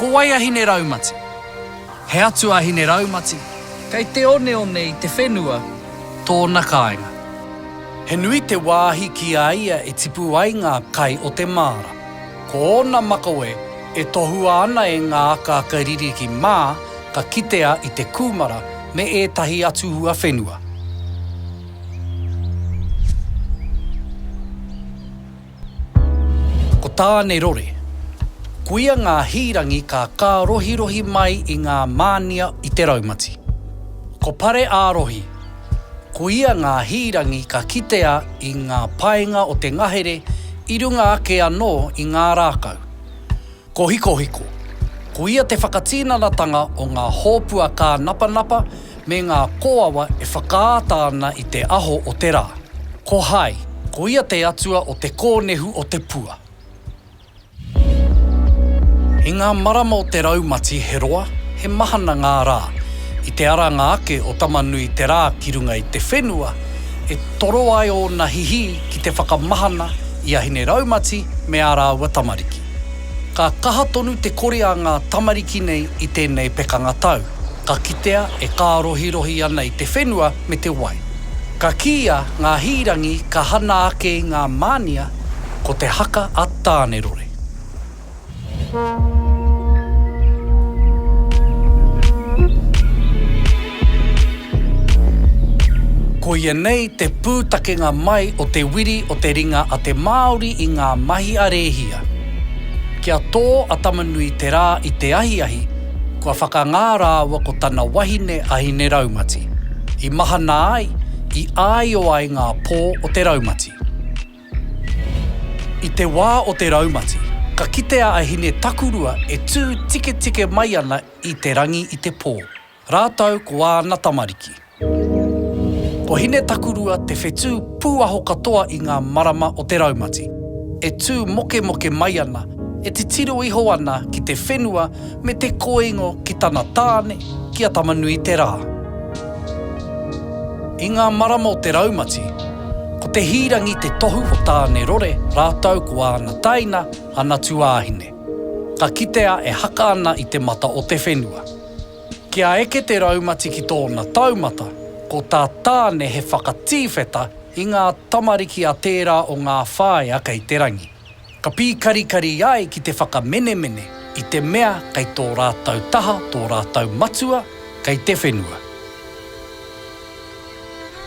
Ko wai a Hineraumati? He atua a Hineraumati, kei te oneone i te whenua tōna kāinga. He nui te wāhi ki a ia e tipu ai ngā kai o te māra. Ko ōna makawe e tohua ana e ngā akaaka ririki mā ka kitea i te kūmara me ētahi atu huawhenua. Ko Tānerore. Koia ngā hīrangi ka kārohirohi mai i ngā mānia i te raumati. Ko Pare-ā-rohi. Ko ia ngā hīrangi ka kitea i ngā paenga o te ngahere i runga ake anō i ngā rākau. Ko Hikohiko, ko ia te whakatinanatanga o ngā hōpua kānapanapa me ngā kōawa e whakaata ana i te aho o te rā. Ko Hai, ko ia te atua o te kōnehu o te pua. I ngā marama o te raumati he roa, he mahana ngā rā. I te aranga ake o Tamanui te rā ki runga i te whenua, e toro ai ōna hihī ki te whakamahana i a Hine Raumati me ā rāua tamariki. Ka kaha tonu te kore a ngā tamariki nei i tēnei pekanga tau, ka kitea e kārohirohi ana i te whenua me te wai. Ka kīia ngā hīrangi ka hana ake i ngā mānia Ko te haka a Tānerore. Koia nei te pūtakenga mai o te wiri o te ringa a te Māori i ngā mahi a Rēhia. Kia tō a Tamanui te rā i te ahiahi, kua whakangā rāua ko tana wahine a Hineraumati. I mahana ai, i āio ai ngā pō o te raumati. I te wā o te raumati, ka kitea a Hine Takurua e tū tiketike mai ana i te rangi i te pō, rātou ko āna tamariki. Ko Hine Takurua te whetū pūaho katoa i ngā marama o te raumati, e tū mokemoke mai ana, e titiro iho ana ki te whenua me te koingo ki tana tāne, ki a Tama-nui-te-rā. I ngā marama o te raumati, ko Te Hīrangi te tohu o Tāne-rore rātou ko āna taina, ana tuāhine. Ka kitea e haka ana i te mata o te whenua. Kia eke te raumati ki tōna taumata, ko tā Tāne he whakatīwheta i ngā tamariki a tērā o ngā whāea kei te rangi. Ka pīkarikari ai ki te whakamenemene i te mea kei tō rātou taha tō rātou matua kei te whenua.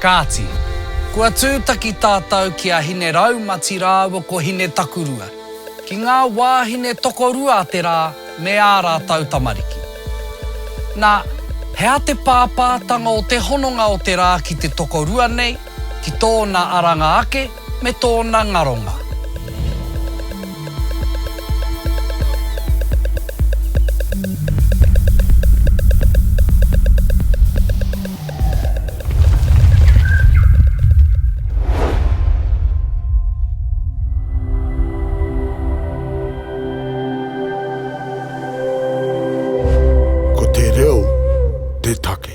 Kāti, kua tūtaki tātou ki a Hine Raumati rāua ko Hine Takurua, ki ngā wāhine tokorua a te rā me ā rātou tamariki. Nā, he aha te pāpātanga o te hononga o te rā ki te tokorua nei, ki tōna aranga ake? me tōna ngaronga. Ko te reo te take.